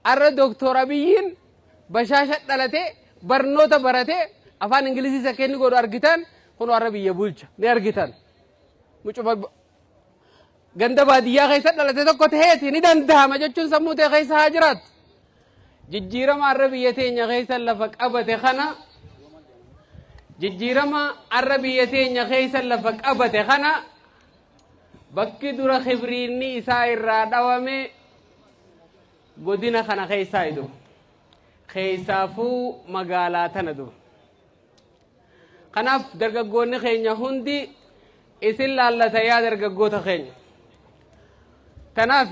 Arra Doktoor Abiyyiin bashaasha dhalatee, barnoota baratee, afaan Ingiliziis akka inni godhu argitaan kunoo arra biyya bulcha. Ni argitan. Mucuma ganda baadiyyaa keessa dhalate tokko ta'eeti ni danda'ama jechuun sammuu ta'e keessa haa jiraatu. Jijjiirama arra biyya teenya keessa lafa qabate kana jijjiirama arra biyya teenya keessa lafa qabate kana Bakki dura kibriinni isaa irraa dhawame godina kana keessaa idu. Keessaafuu magaalaa tana dura. Kanaaf dargaggoonni keenya hundi isin laallata yaa dargaggoota keenya. Kanaaf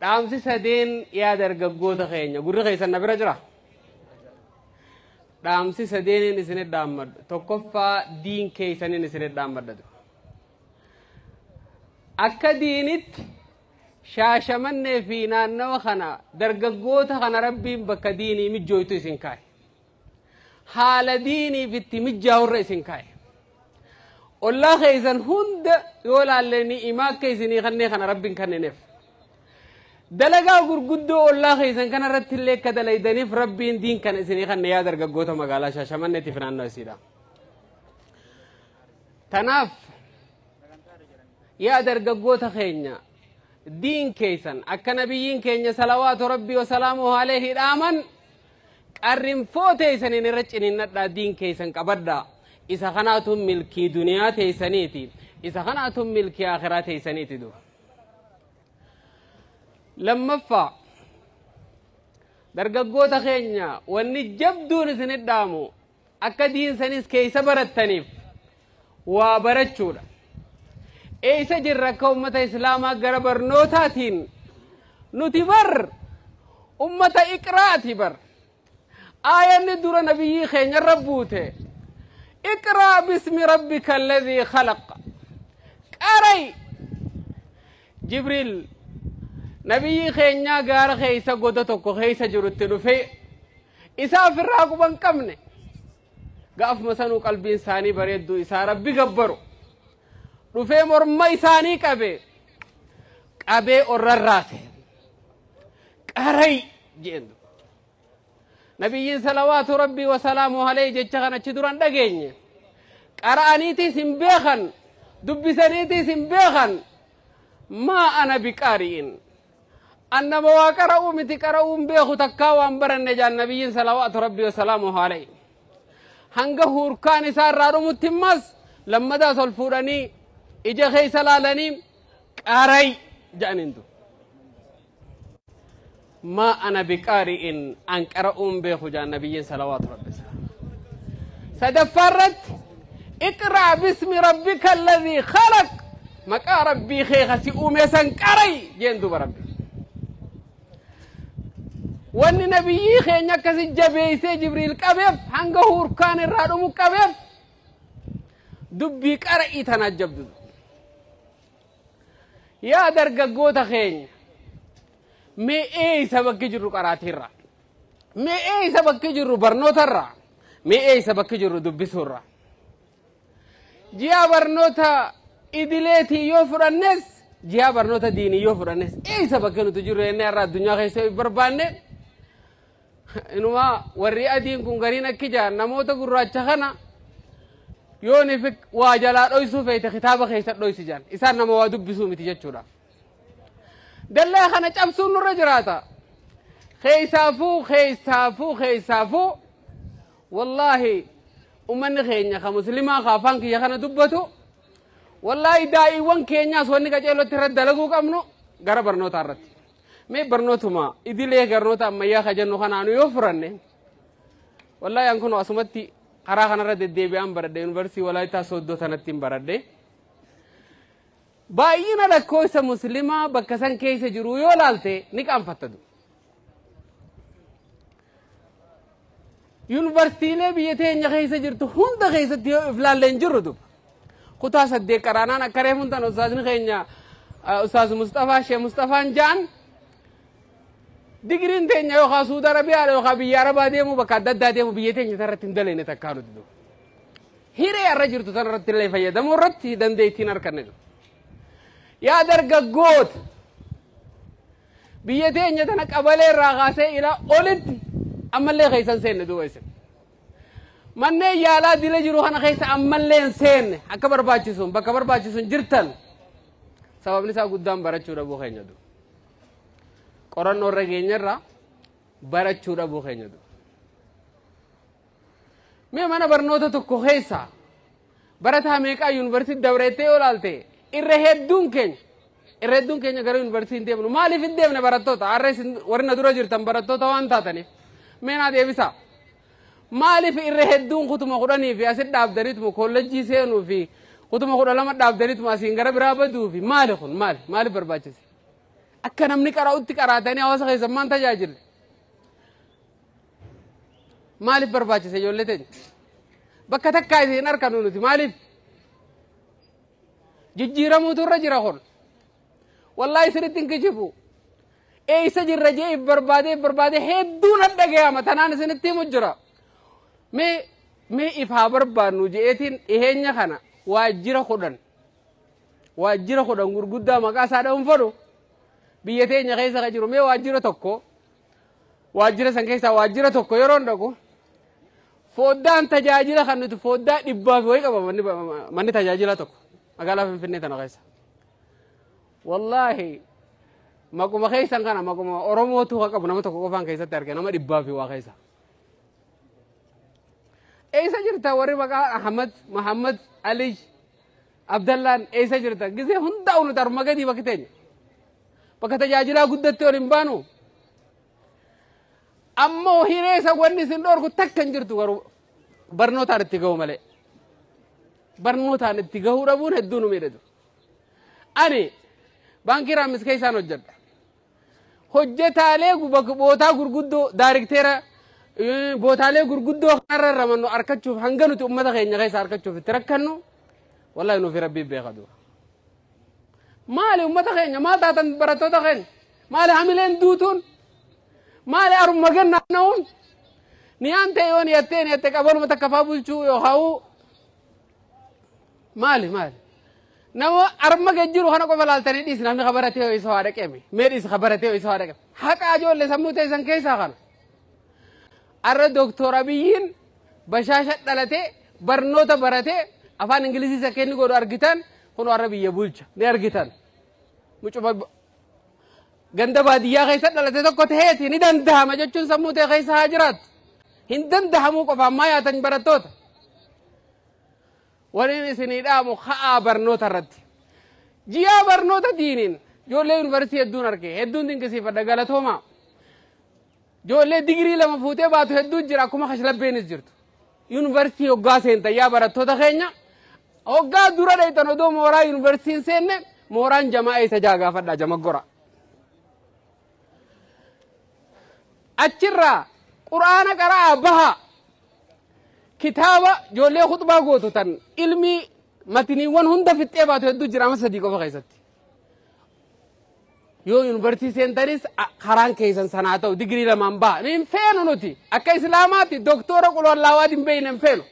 Dhaamsi sadeen yaa dargaggoota keenya gurri keessan na bira jira. Dhaamsi sadeeniin isinit dhaammadhu tokkoffaa diin keessaniin isinit dhaammadhatu. Akka diinitti shaashamannee fi naannawa kana dargaggoota kana rabbiin bakka diinii mijjooytu isin kaa'e. haala diiniif itti mijjaawu irra isin kaa'e. Ollaa keessan hunda yoo laalle ni'imaa akka isinii kannee kana rabbiin kannineef. Dalagaa gurguddoo ollaa keessan kana irratti illee akka dalaydaniif rabbiin diin kana isinii kanne yaa dargaggoota magaalaa Shaashamanneetiif naannoo isiidha. Tanaaf yaa dargaggoota keenya diin keessan akka nabiyyiin keenya salawaatu rabbii wasalaamu aleehi dhaaman Qarrinfoo teeysaniin irra ciniinnadhaa diin keeysan qabadhaa. Isa kanaatu milkii duniyaa teeysaniiti. Isa kanaatu milkii aakhiraa teeysaniiti duba. Lammaffaa dargaggoota keenya wanni jabduun isinit dhaamu Akka diin sanis keessa barattaniif waa barachuudha. Eessa jirra akka ummata Islaamaa gara barnootaatiin nuti bar ummata iqraati bar. Aayanni dura nabiyyii keenyarra buute iqraa bismi rabbika alladhii khalaq qara'i Jibriil nabiyyii keenyaa gaara keessa goda tokko keessa jirutti dhufee Isaa ofirraa quba hin qabne. Gaafuma sanuu qalbiin isaanii bareedduu isaa rabbi gabbaru. Dhufee morma isaanii qabee qabee orrarraase. Qaray jeen. Nabiyyiin salawaatu rabbii wasalaamu alayhi jecha kan achi duran dhageenye. Qara'aniitiis hin beekan dubbisaniitiis hin beekan maa ana biqaari'in. An nama waa qara'uu miti qara'uu hin beeku takkaa waan baranne jaan nabiyyiin salawaatu rabbii wasalaamuhu alayhi. Hanga huurkaan isaa irraa dhumutti immas lammadaas ol fuudhanii ija keessa laalanii qara'i jedhaniin tu. Maa ana biqaari'in an qara'uu hin beeku jaan nabiyyiin salawaatu rabbii wasalaamuhu alayhi. Sadaffaa irratti iqra'a bismi rabbika alladhii khalaq Maqaa Rabbii kee ka si uumee san qara'i jeen duuba Rabbi. Wanni nabiyyii keenya akkasi jabeeysee Jibriil qabeef hanga hurkaan irraa dhumu qabeef dubbii qara'ii tanaa jabdu. Yaa dargaggoota keenya mee eeysa bakki jirru qaraatirra mee eeysa bakki jirru barnootarra mee eeysa bakki jirru dubbisuurra. Ji'a barnoota idileetii yoo fudhannes ji'a barnoota diinii yoo fudhannes eessa bakka nuti jirru jennee har'a addunyaa keessa yoo barbaanne inumaa warri adiin kun gariin akki jaan namoota gurraacha kana yoo ni waa jalaa dhoysuu feete kitaaba keessa dhoysi jaan isaan nama waa dubbisuu miti jechuudha. Dallaa kana cabsuun nurra jiraata. Keessaafuu keessaafuu keessaafuu Wallaahi ummanni keenya ka muslimaa ka afaan kiyya kana dubbatu wallaahi daa'iiwwan keenyaas wanni qaceelootti irratti dalaguu qabnu gara barnootaa irratti. Mee barnootuma idilee barnoota ammayyaa ka jennu kanaanu yoo furanne wallaahi an kun asumatti karaa kanarra deddeebi'aan baradhe yuunivarsiitii walaayittaa sooddoo tanattiin baradhe. Baay'ina lakkoofsa muslimaa bakka san keessa jiruu yoo laalte ni qaanfatta du. Yuunivarsiitiilee biyya teenya keessa jirtu hunda keessatti yoo iflaalle hin jirru du. Kutaa saddeet qaraanaan akka reefuun tan ustaazni keenya ustaaz Mustafaa Shee Mustafaan jaan digiriin teenya yookaan Suudi Arabiyaadha yookaan biyya Arabaa deemuu bakka adda addaa deemuu biyya teenya irratti hin daleene takkaa nuti du. Hiree har'a jirtu tana irratti illee fayyadamuu irratti dandeettiin harkanne jiru. Yaa dargaggoota biyya teenya tana qabalee irraa kaasee ilaa olitti ammallee keessan seenne duuba isin. Manneen yaalaa dila jiru kana keessa ammallee hin seenne akka barbaachisuun bakka barbaachisuun jirtan sababni isaa guddaan barachuu dhabuu keenya duuba. Qorannoo irra geenyerra barachuu dhabuu keenya duuba. Mee mana barnoota tokko keessa barataa meeqaa yuunivarsiitii dabreettee yoo ilaalte irra hedduun keenya irra hedduun keenya gara yuunivarsiitii hin deemnu maaliif hin deemne barattoota har'a isin warri na dura jirtan barattoota waan taataniif mee naa deebisaa maaliif irra hedduun kutuma kudhanii fi asit dhaabdaniituma kollejjii seenuu fi kutuma kudha lama dhaabdaniituma asiin gara biraa baduu fi maali kun maali maaliif barbaachise akka namni qara'utti qaraatanii hawaasa keessan maan tajaajille Maaliif barbaachise ijoollee teenya? Bakka takkaa isin hin arginu nuti maaliif? Jijjiiramuutu irra jira kun. Wallaahi isinitti hin kijibu. Eessa jirra jee if barbaadee if barbaadee hedduu nan dhagayama tanaan isinitti himu jira. Mee mee if haa barbaannu je'eetiin dhiheenya kana waajjira kudhan waajjira kudhan gurguddaa maqaa isaa dha'uun fedhu biyya teenya keessa kan jiru mee waajjira tokko Waajjira san keessaa waajjira tokko yeroon dhaqu foddaan tajaajila kan nuti foddaa dhibbaa fi wayii qaba manni, manni tajaajila tokko magaalaa Finfinnee tana keessa. Wallaahi maquma keessan kana maquma Oromootu haa qabu nama tokko qofaan keessatti arge nama dhibbaa fi waa keessa. Eessa jirta warri maqaa Ahmad, Mahammad, Alij, Abdallaan eessa jirta? Gisee hundaa'u nuti harma gadii bakki teenya. Bakka tajaajilaa guddatti ol hin baanu. Ammoo hireessa wanni isin dhorku takka hin jirtu garuu barnootaan itti gahu malee. Barnootaan itti gahuu dhabuun hedduu nu miidhatu. Ani baankii raamis keessaan hojjedha. Hojjetaalee bootaa gurguddoo daarikteera bootaalee gurguddoo kanarra ramannu arkachuuf hanga nuti ummata keenya keessa arkachuuf itti rakkannu wallahi nuufi rabbii beeka dura. Maali ummata keenya maal taatan barattoota keenya maali hamileen duutuun maali arumma gannaa na'uun niyaan ta'e yoo niyattee niyatte qabanuma takka faa bulchuu yookaan Maali maali? Nama arma gad jiru kana qofa laaltanii dhiisi namni ka baratee ho'isa waa dhaqeeme. Mee dhiisi ka baratee ho'isa waa dhaqeeme. Haqa ijoollee sammuu teessan keessaa kana. Arra Dooktor Abiyyiin bashaasha dhalatee barnoota baratee afaan Ingilizii isa kenni godhu argitan kun warra biyya bulcha ni argitan. Mucuma Ganda baadiyyaa keessa dhalate tokko taheeti ni dandahama jechuun sammuu ta'e keessa haa jiraatu. Hin dandahamuu qofaan maa yaatan barattoota. Waliin isinii dhaamu ka'aa barnoota irratti. Ji'aa barnoota diiniin ijoollee yuunivarsiitii hedduun arge hedduun dinqisiifadha galatoomaa. Joollee digirii lama fuutee baatu hedduu jira akkuma kashlabbeenis jirtu. Yuunivarsiitii hoggaa seentan yaa barattoota keenya hoggaa dura dheeytan odoo mooraa yuunivarsiitii hin seenne mooraan jamaa eessa jaa gaafadhaa jamaggora. Achirraa quraana qara'aa bahaa kitaaba joollee kutbaa gootu tan ilmii matiniiwwan hunda fixxee baatu hedduu jira amma sadii qofa keessatti. yoo yuunivarsiitii seentanis a- karaan keessan sana haa ta'u digirii lamaan ba'a nu hin feenu nuti akka islaamaatti doktoora qulwallaawaa hin beekne hin feenu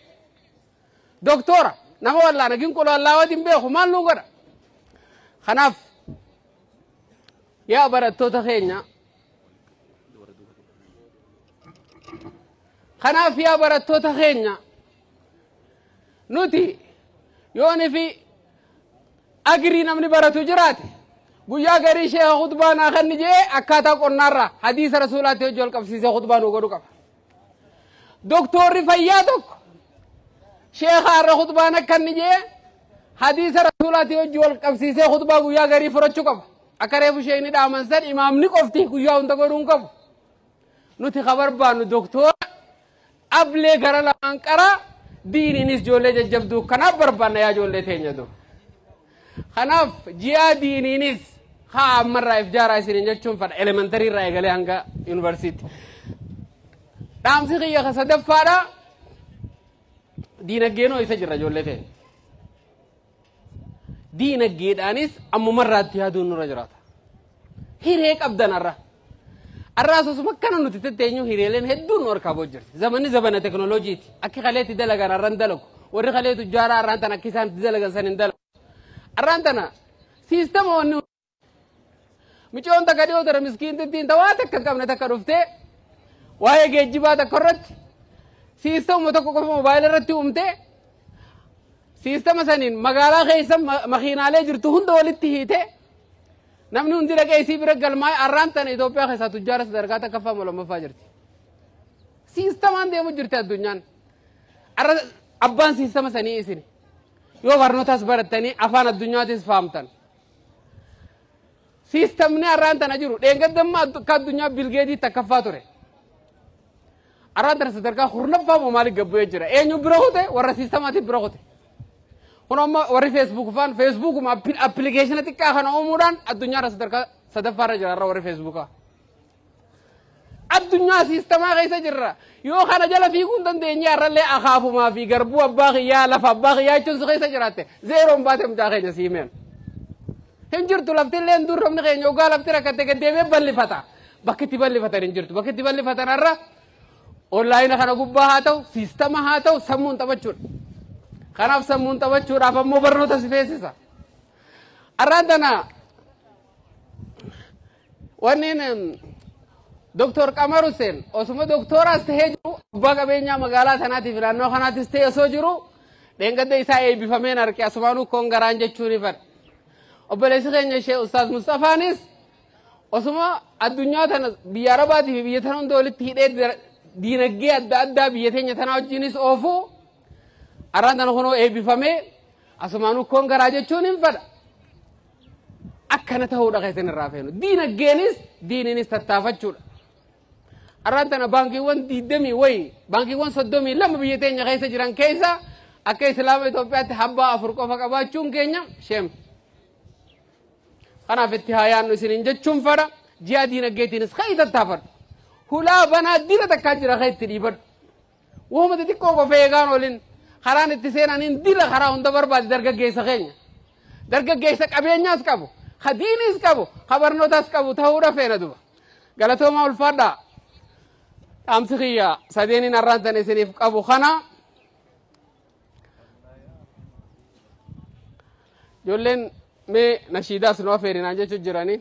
doktoora nama wallaana gin qulwallaawaa hin beeku maal nu godha kanaaf yaa barattoota keenya kanaaf yaa barattoota keenya nuti yooni fi agrii namni baratu jiraate guyyaa garii sheeka khutbaa naa kenni jee akkaataa qonnaarraa hadiisa rasuulaatti hojii wal qabsiisee khutbaa nuu godhu qaba. Doktoorri fayyaa tokko sheeka har'a khutbaan akka inni jee hadiisa rasuulaatti hojii wal qabsiisee khutbaa guyyaa garii furachuu qaba. Akka reefu sheekni dhaaman san imaamni qofti guyyaa hunda godhuun qabu. Nuti ka barbaannu doktoora Ablee gara lamaan qaraa diiniinis ijoollee jajjabduu kanaaf barbaanna yaa ijoollee teenya doo. Kanaaf ji'aa diiniinis haa ammarraa if jaaraa isiniin jechuun fadha elementarii irraa eegalee hanga yuunivarsiitti. Dhaamsi kiyya ka sadaffaadha. Diinaggeenoo isa jirra ijoollee teenya. diinaggeedhaanis ammuma irraatti yaaduun nurra jiraata. Hiree qabdan har'a. Har'aas osuma akkana nuti tetteenyu hireeleen hedduun nu harkaa booda jirti. Zamanni zabana teknooloojiiti. Akki kaleetti dalagan har'an dalagu. Warri kalee tujjaaraa har'aan tana akki isaan itti dalagan san hin dalagu. Har'aan tana siistama wanni Micoon takka dhiyoo ture miskiintittiin ta waa takka hin qabne takka dhuftee waa'ee geejjibaa takka irratti siistama tokko qofa moobaayila irratti uumtee siistama saniin magaalaa keessa ma- makiinaalee jirtu hunda walitti hiitee namni hundi dhaqee isii bira galmaa'ee arraan tana Itoophiyaa keessaa tujjaara sadarkaa takkaffaa moo lammaffaa jirti. Siistamaan deemu jirti addunyaan. Arra abbaan siistama sanii isin. Yoo barnootas barattanii afaan addunyaatis fahamtan. Siistamni har'aan tana jiru dheengaddamma akka addunyaa bilgeetii takkaffaa ture. Har'aan tana sadarkaa kurnaffaa moo maaliif gabbu'ee jira? Eenyu bira kute warra siistamaatiin bira kute. Kun amma warri feesbuuk faan feesbuukuma appilikeeshina xiqqaa kana uumuudhaan addunyaarra sadarkaa sadaffaarra jira har'a warri feesbuukaa. Addunyaa siistamaa keessa jirra. Yoo kana jala fiiguu hin dandeenye har'allee akaafumaa fi garbuu abbaa kiyyaa lafa abbaa kiyyaa jechuun si keessa jiraatte zeeroon baatee mucaa keenya si himeen. Hin jirtu lafti illee hin durromni keenya ogaa lafti rakkatte gaddeemee ballifata. Bakki itti ballifatan hin jirtu. Bakki itti ballifatan har'a onlaayina kana gubbaa haa ta'u siistama haa ta'u sammuun taphachuudha. Kanaaf sammuun taphachuudhaaf ammoo barnoota si feesisa. Arraan tana Wanneen Dooktor Qamar Hussein osuma dooktoraas ta'ee jiru abbaa qabeenyaa magaalaa sanaatiif naannoo kanaattis ta'e osoo jiru dheengadda isaa eebbifameen arge asumaanuu koon garaan jechuun ifadha. Obboleessi keenya ishee Ustaaz Mustafaanis osuma addunyaa tana biyya Arabaatii fi biyya tana hunda walitti hidhee diinagdee adda addaa biyya teenya tanaa wajjinis oofu arraan tana kunoo eebbifamee asumaanuu koon garaa jechuun hin fadha. akkana ta'uudha kan isin irraa feenu. Diinagdeenis diiniinis tattaafachuudha. Arraan tana baankiiwwan diidamii wayi baankiiwwan soddomii lama biyya teenya keessa jiran keessa akka Islaama Itoophiyaatti habbaa afur qofa qabaachuun keenya sheem. Kanaaf itti haa yaannu isiniin jechuun fadha ji'a diinagdeetiinis kan tattaafadhu. Hulaa banaa diina takkaa jira kan itti dhiibadhu. Wahuma xixiqqoo qofa eegaan olin karaan itti seenaniin dila karaa hunda barbaade dargaggeessa keenya. Dargaggeessa qabeenyaas qabu, ka diiniis qabu, ka barnootaas qabu ta'uudha feena duba. Galatoomaa ulfaadhaa. Dhaamsi kiyya sadeeniin har'aan tan isiniif qabu kana. Ijoolleen mee nashiidaas nu afeerinaan jechuun jiranii.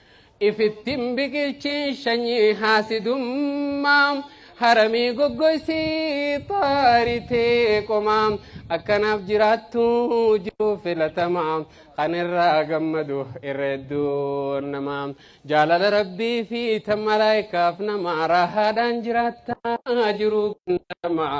Ifittin biqilchin shanyii haasidummaa Haramii goggoysii xaari tee qomaa Akka naaf jiraattu jiruu filatamaa Kan irraa gammadu irra hedduun namaa Jaalala rabbii fi tan malaaykaaf namaa Raahaadhaan jiraattaa jiruu gandaramaa